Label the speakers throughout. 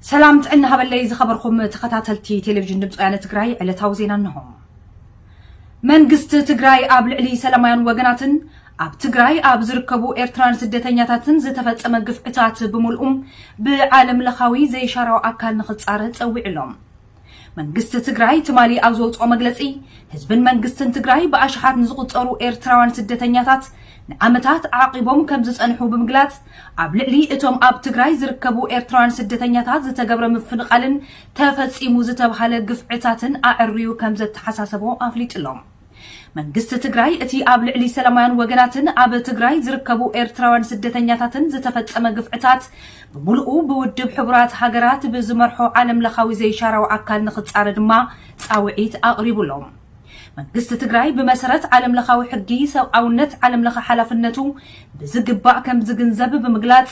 Speaker 1: ሰላም ጥዕና ሃበለይ ዝኸበርኹም ተኸታተልቲ ቴሌቪዥን ድምፂ ወያነ ትግራይ ዕለታዊ ዜና እንሆ። መንግስቲ ትግራይ ኣብ ልዕሊ ሰላማውያን ወገናትን ኣብ ትግራይ ኣብ ዝርከቡ ኤርትራን ስደተኛታትን ዝተፈጸመ ግፍዕታት ብምልኡ ብዓለም ለኻዊ ዘይሻራዊ ኣካል ንኽፃረ ፀዊዑ ኣሎ። መንግስቲ ትግራይ ትማሊ ኣብ ዘውፅኦ መግለፂ ህዝብን መንግስትን ትግራይ ብኣሽሓት ንዝቑፀሩ ኤርትራውያን ስደተኛታት ንዓመታት ኣዕቒቦም ከም ዝፀንሑ ብምግላፅ ኣብ ልዕሊ እቶም ኣብ ትግራይ ዝርከቡ ኤርትራውያን ስደተኛታት ዝተገብረ ምፍንቓልን ተፈፂሙ ዝተብሃለ ግፍዕታትን ኣዐርዩ ከም ዘተሓሳሰቦ ኣፍሊጡሎም። መንግስቲ ትግራይ እቲ ኣብ ልዕሊ ሰላማውያን ወገናትን ኣብ ትግራይ ዝርከቡ ኤርትራውያን ስደተኛታትን ዝተፈጸመ ግፍዕታት ብምሉኡ ብውድብ ሕቡራት ሃገራት ብዝመርሖ ዓለም ለኻዊ ዘይሻራዊ ኣካል ንኽጻረ ድማ ጻውዒት ኣቕሪቡ ኣሎ። መንግስቲ ትግራይ ብመሰረት ዓለም ለኻዊ ሕጊ ሰብኣውነት ዓለም ለኸ ሓላፍነቱ ብዝግባእ ከም ዝግንዘብ ብምግላጽ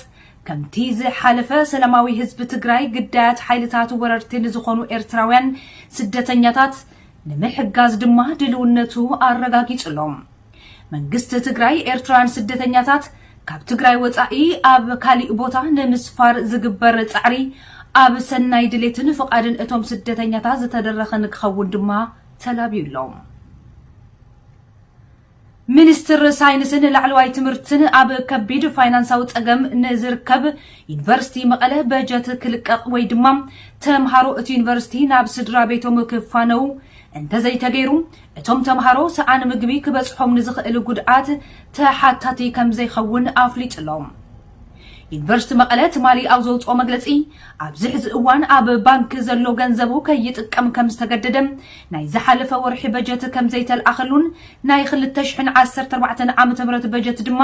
Speaker 1: ከምቲ ዝሓለፈ ሰላማዊ ህዝቢ ትግራይ ግዳያት ሓይልታት ወረርቲ ንዝኾኑ ኤርትራውያን ስደተኛታት ንምሕጋዝ ድማ ድልውነቱ ኣረጋጊፁ ኣሎ። መንግስቲ ትግራይ ኤርትራውያን ስደተኛታት ካብ ትግራይ ወፃኢ ኣብ ካሊእ ቦታ ንምስፋር ዝግበር ፃዕሪ ኣብ ሰናይ ድሌትን ፍቓድን እቶም ስደተኛታት ዝተደረኸ ንክኸውን ድማ ተላብዩ ኣሎ። ሚኒስትር ሳይንስን ላዕለዋይ ትምህርትን ኣብ ከቢድ ፋይናንሳዊ ፀገም ንዝርከብ ዩኒቨርሲቲ መቐለ በጀት ክልቀቕ ወይ ድማ ተምሃሮ እቲ ዩኒቨርሲቲ ናብ ስድራ ቤቶም ክፋነዉ እንተዘይተገይሩ እቶም ተምሃሮ ሰኣን ምግቢ ክበፅሖም ንዝኽእል ጉድኣት ተሓታቲ ከምዘይኸውን ኣፍሊጡ'ሎ። ዩኒቨርስቲ መቐለ ትማሊ ኣብ ዘውፅኦ መግለፂ ኣብዚ ሕዚ እዋን ኣብ ባንኪ ዘሎ ገንዘቡ ከይጥቀም ከምዝተገደደ፣ ናይ ዝሓለፈ ወርሒ በጀት ከምዘይተልኣኸሉን ናይ ክልተ ሽሕን ዓሰርተ ኣርባዕተን ዓመተ ምህረት በጀት ድማ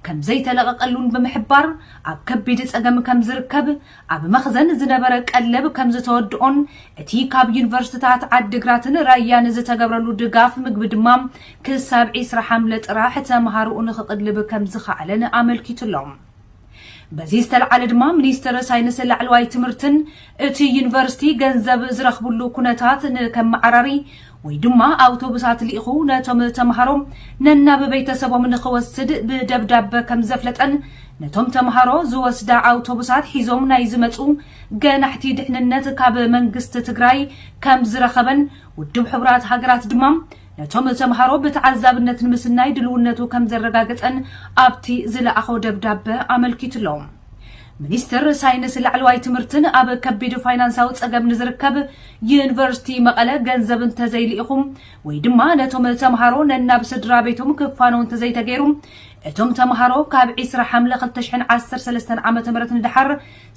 Speaker 1: ከምዘይተለቐቐሉን ብምሕባር ኣብ ከቢድ ፀገም ከምዝርከብ ኣብ መኽዘን ዝነበረ ቀለብ ከምዝተወድኦን እቲ ካብ ዩኒቨርስትታት ዓዲግራትን ራያን ዝተገብረሉ ድጋፍ ምግቢ ድማ ክሳብ ዒስራ ሓምለ ጥራሕ ተምሃሮኡ ንክቕልብ ከምዝኸኣለን ኣመልኪቱ ኣሎ። በዚ ዝተልዓለ ድማ ሚኒስትር ሳይንስ ላዕለዋይ ትምህርትን እቲ ዩኒቨርስቲ ገንዘብ ዝረኽብሉ ኩነታት ንከመዓራሪ ወይ ድማ ኣውቶቡሳት ልኢኹ ነቶም ተምሃሮ ነናብ ቤተሰቦም ንኽወስድ ብደብዳበ ከም ዘፍለጠን ነቶም ተምሃሮ ዝወስዳ ኣውቶቡሳት ሒዞም ናይ ዝመጹ ገናሕቲ ድሕንነት ካብ መንግስቲ ትግራይ ከም ዝረኸበን ውድብ ሕቡራት ሃገራት ድማ ነቶም ተምሃሮ ብተዓዛብነት ንምስናይ ድልውነቱ ከም ዘረጋገጸን ኣብቲ ዝለኣኾ ደብዳበ ኣመልኪቱሎም። ሚኒስትር ሳይንስ ላዕለዋይ ትምህርትን ኣብ ከቢድ ፋይናንሳዊ ጸገም ንዝርከብ ዩኒቨርሲቲ መቐለ ገንዘብ እንተዘይልኢኹም ወይ ድማ ነቶም ተምሃሮ ነናብ ስድራ ቤቶም ክፋነው እንተዘይተገይሩ እቶም ተምሃሮ ካብ ዒስራ ሓምለ ክልተ ሽሕን ዓሰርተ ሰለስተን ዓመተ ምህረት ንደሓር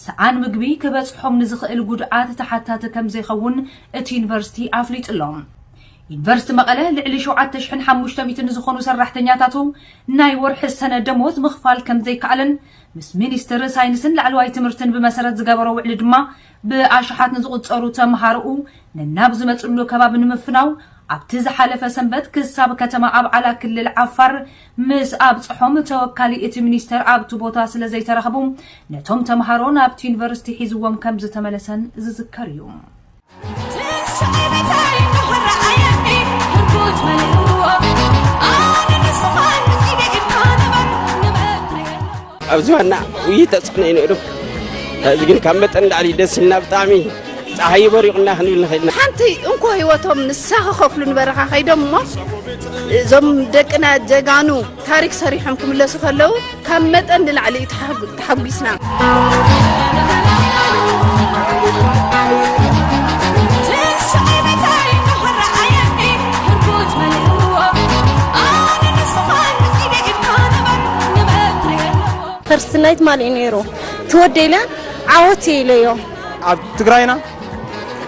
Speaker 1: ሰኣን ምግቢ ክበጽሖም ንዝኽእል ጉድኣት ተሓታቲ ከምዘይኸውን እቲ ዩኒቨርሲቲ ኣፍሊጡ ኣሎ። ዩኒቨርሲቲ መቐለ ልዕሊ ሸውዓተ ሽሕን ሓሙሽተ ሚእትን ንዝኾኑ ሰራሕተኛታቱ ናይ ወርሒ ሰነ ደሞዝ ምኽፋል ከምዘይከኣለን ምስ ሚኒስትር ሳይንስን ላዕለዋይ ትምህርትን ብመሰረት ዝገበሮ ውዕሊ ድማ ብኣሽሓት ንዝቑፀሩ ተምሃሮኡ ነናብ ዝመፅሉ ከባቢ ንምፍናው ኣብቲ ዝሓለፈ ሰንበት ክሳብ ከተማ ኣብዓላ ክልል ዓፋር ምስ ኣብፀሖም ተወካሊ እቲ ሚኒስቴር ኣብቲ ቦታ ስለዘይተረኸቡ ነቶም ተምሃሮ ናብቲ ዩኒቨርሲቲ ሒዝዎም ከምዝተመለሰን ዝዝከር እዩ።
Speaker 2: ኣብዚ ዋና ውይይት ተፅዕኖ እዩ ነይሩ እዚ ግን ካብ መጠን ላዕሊ ደስ ኢልና ብጣዕሚ ፀሓይ በሪቑና ክንብል ንኽእል ሓንቲ እንኮ ህይወቶም
Speaker 3: ንሳ ክኸፍሉ ንበረኻ ከይዶም እሞ እዞም ደቅና ጀጋኑ ታሪክ ሰሪሖም ክምለሱ ከለው ካብ መጠን ንላዕሊ እዩ ተሓጒስና።
Speaker 4: ፈርስት ናይት ማልእ ነይሩ ትወደኢለ ዓወት ኢለዮ ኣብ ትግራይና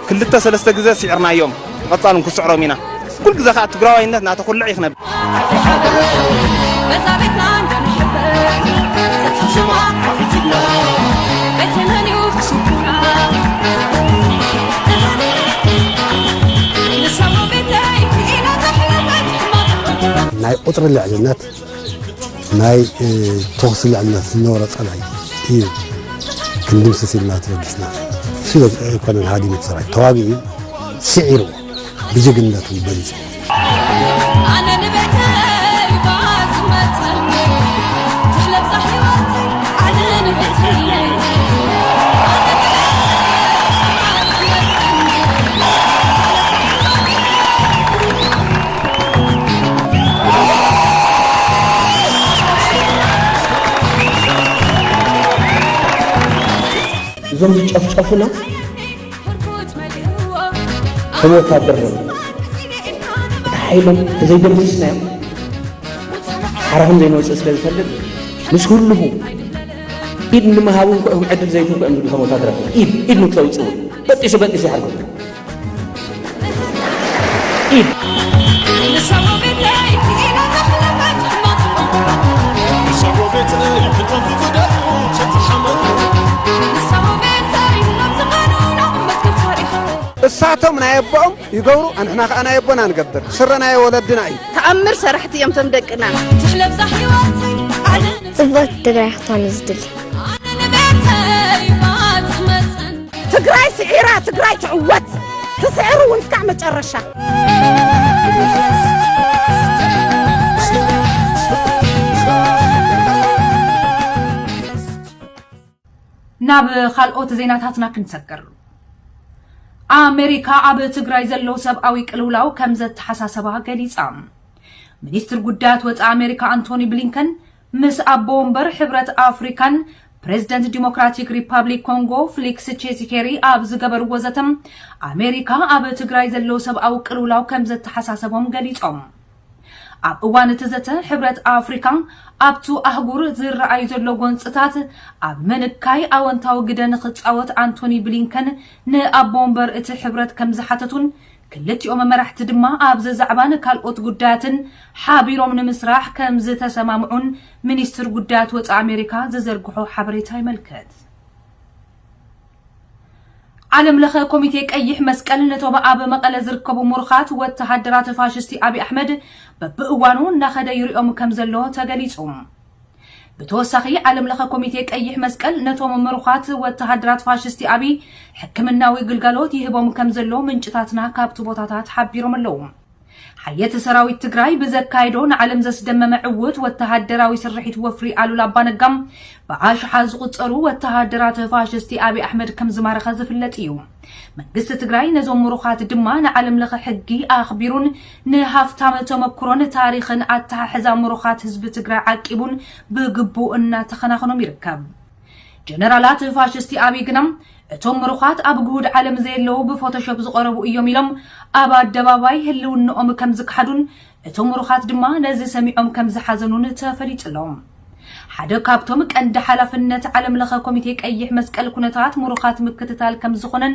Speaker 5: ክልተ ሰለስተ ግዘ ሲዕርናዮም ብቀፃሉ ንክስዕሮም ኢና ኩሉ ግዘ ከዓ ትግራዋይነት ናተኩልዕ እዩ ክነብ
Speaker 6: ናይ ቁፅሪ ልዕልነት ናይ ተኹሲ ልዕልነት ዝነበሮ ጸላኢ እዩ ክንድምስስ ኢልና ተበጊስና ስለ ኣይኮነን ሃዲሙ ሰራዊት ተዋጊኡ ስዒርዎ ብጅግንነት እውን በሊጹ
Speaker 7: እዞም ዝጨፍጨፉና ከም ወታደር ነ እቲ ሓይሎም ተዘይደምስስናዮም ሓራ ከም ዘይንወፅእ ስለ ዝፈልጥ ምስ ህልሁ ኢድ ንምሃብ እንኮ እዮም ዕድል ዘይትንኮ እዮም ዝብሉ ከም ወታደራት ኢድ ኢድ ንክተውፅእ እውን በጢሱ በጢሱ ይሓርገሉ
Speaker 8: እሳቶም ናይ ኣቦኦም ይገብሩ ኣንሕና ከዓ ናይ ኣቦና ንገብር ስረ ናይ ወለድና እዩ ተኣምር ሰራሕቲ እዮም
Speaker 3: ቶም ደቅና ትሕለብዛ
Speaker 9: ሕይወተይ ዓለም
Speaker 4: ጽብቕቲ ትግራይ ክትኾን እዩ ዝድሊ ኣነ ንቤተይ ማት
Speaker 3: መፅን ትግራይ ስዒራ ትግራይ ትዕወት ትስዕር እውን እስካዕ መጨረሻ።
Speaker 1: ናብ ካልኦት ዜናታትና ክንሰግር ኣሜሪካ ኣብ ትግራይ ዘሎ ሰብኣዊ ቅልውላው ከም ዘተሓሳሰባ ገሊጻ። ሚኒስትር ጉዳያት ወፃኢ ኣሜሪካ ኣንቶኒ ብሊንከን ምስ ኣቦ ወንበር ሕብረት ኣፍሪካን ፕሬዝደንት ዲሞክራቲክ ሪፓብሊክ ኮንጎ ፍሊክስ ቼሲኬሪ ኣብ ዝገበርዎ ዘተ ኣሜሪካ ኣብ ትግራይ ዘሎ ሰብኣዊ ቅልውላው ከምዘተሓሳሰቦም ገሊፆም። ኣብ እዋን እቲ ዘተ ሕብረት ኣፍሪካ ኣብቱ ኣህጉር ዝረኣይ ዘሎ ጎንፅታት ኣብ ምንካይ ኣወንታዊ ግደ ንክፃወት ኣንቶኒ ብሊንከን ንኣቦ ወንበር እቲ ሕብረት ከምዝሓተቱን ክልቲኦም መራሕቲ ድማ ኣብ'ዚ ዛዕባን ካልኦት ጉዳያትን ሓቢሮም ንምስራሕ ከምዝተሰማምዑን ሚኒስትሪ ጉዳያት ወጻኢ ኣሜሪካ ዝዘርግሖ ሓበሬታ የመልክት። ዓለምለኸ ኮሚቴ ቀይሕ መስቀል ነቶም ኣብ መቐለ ዝርከቡ ሙሩኻት ወተሃደራት ፋሽስቲ ኣብይ ኣሕመድ በብእዋኑ እናኸደ ይሪኦም ከምዘሎ ተገሊፁ። ብተወሳኺ ዓለም ለኸ ኮሚቴ ቀይሕ መስቀል ነቶም ምሩኻት ወተሃደራት ፋሽስቲ ኣብይ ሕክምናዊ ግልጋሎት ይህቦም ከም ዘሎ ምንጭታትና ካብቲ ቦታታት ሓቢሮም ኣለዉ። ሓየት ሰራዊት ትግራይ ብዘካየዶ ንዓለም ዘስደመመ ዕውት ወተሃደራዊ ስርሒት ወፍሪ ኣሉላ ኣባነጋ ብኣሽሓት ዝቑፀሩ ወተሃደራት ፋሽስቲ ኣብይ ኣሕመድ ከም ዝማረኸ ዝፍለጥ እዩ። መንግስቲ ትግራይ ነዞም ምሩኻት ድማ ንዓለም ለኸ ሕጊ ኣኽቢሩን ንሃፍታም ተመኩሮን ታሪኽን ኣተሓሕዛ ሙሩኻት ህዝቢ ትግራይ ዓቂቡን ብግቡእ እናተኸናኸኖም ይርከብ። ጀነራላት ፋሽስቲ ኣብይ ግና እቶም ምሩኻት ኣብ ግሁድ ዓለም ዘየለዉ ብፎቶሾፕ ዝቐረቡ እዮም ኢሎም ኣብ ኣደባባይ ህልውንኦም ከምዝከሓዱን እቶም ምሩኻት ድማ ነዚ ሰሚዖም ከምዝሓዘኑን ተፈሊጡ ኣሎ። ሓደ ካብቶም ቀንዲ ሓላፍነት ዓለምለኸ ኮሚቴ ቀይሕ መስቀል ኩነታት ሙሩኻት ምክትታል ከምዝኾነን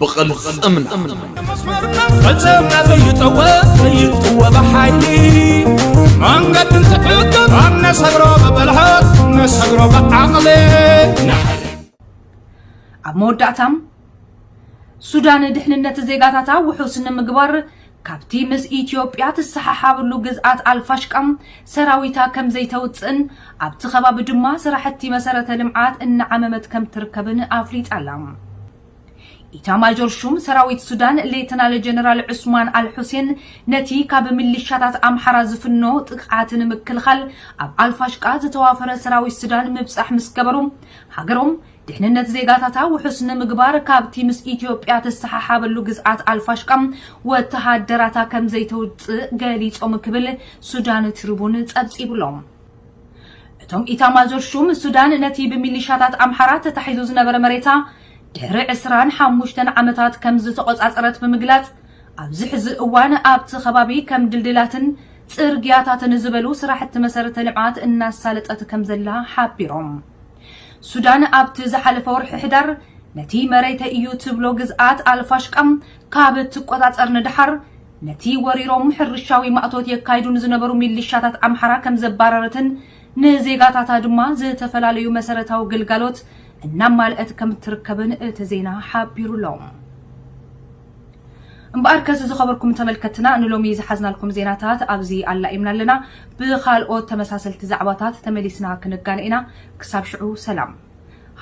Speaker 10: ብቕልፅምና
Speaker 11: ፈፀምና ዘይጠወ ዘይጥወ ብሓይሊ መንገዲ እንትሕግር ኣብ ነሰግሮ ብብልሃት ነሰግሮ ብዓቕሊ
Speaker 1: ኣብ መወዳእታ ሱዳን ድሕንነት ዜጋታታ ውሑስ ንምግባር ካብቲ ምስ ኢትዮጵያ ትሰሓሓብሉ ግዝኣት ኣልፋሽቃ ሰራዊታ ከም ዘይተውፅእን ኣብቲ ከባቢ ድማ ስራሕቲ መሰረተ ልምዓት እናዓመመት ከም ትርከብን ኣፍሊጣ ኣላ። ኢታማዦር ሹም ሰራዊት ሱዳን ሌተናል ጀነራል ዑስማን ኣልሑሴን ነቲ ካብ ምሊሻታት ኣምሓራ ዝፍኖ ጥቕዓት ንምክልኻል ኣብ ኣልፋሽቃ ዝተዋፈረ ሰራዊት ሱዳን ምብጻሕ ምስ ገበሩ ሃገሮም ድሕንነት ዜጋታታ ውሑስ ንምግባር ካብቲ ምስ ኢትዮጵያ ትሰሓሓበሉ ግዝኣት ኣልፋሽቃ ወተሃደራታ ከም ዘይተውጽእ ገሊጾም ክብል ሱዳን ትሪቡን ጸብጺቡሎም። እቶም ኢታማዦር ሹም፣ ሱዳን ነቲ ብሚሊሻታት ኣምሓራ ተታሒዙ ዝነበረ መሬታ ድሕሪ ዕስራን ሓሙሽተን ዓመታት ከም ዝተቖጻጸረት ብምግላጽ፣ ኣብዚ ሕዚ እዋን ኣብቲ ከባቢ ከም ድልድላትን ጽርግያታትን ዝበሉ ስራሕቲ መሰረተ ልምዓት እናሳለጠት ከም ዘላ ሓቢሮም። ሱዳን ኣብቲ ዝሓለፈ ወርሒ ሕዳር ነቲ መሬተይ እዩ ትብሎ ግዝኣት ኣልፋሽቃ ካብ እትቆጻጸር ንደሓር ነቲ ወሪሮም ሕርሻዊ ማእቶት የካይዱ ንዝነበሩ ሚሊሻታት ኣምሓራ ከም ዘባረረትን ንዜጋታታ ድማ ዝተፈላለዩ መሰረታዊ ግልጋሎት እናማልኣት ከም እትርከብን እቲ ዜና ሓቢሩ ኣሎ። እምበኣር ከስ ዝኸበርኩም ተመልከትና ንሎሚ ዝሓዝናልኩም ዜናታት ኣብዚ ኣላኢምና ኣለና። ብካልኦት ተመሳሰልቲ ዛዕባታት ተመሊስና ክንጋነ ኢና። ክሳብ ሽዑ ሰላም።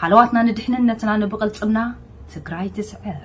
Speaker 1: ሃለዋትና ንድሕንነትና ንብቕልፅምና ትግራይ ትስዕር።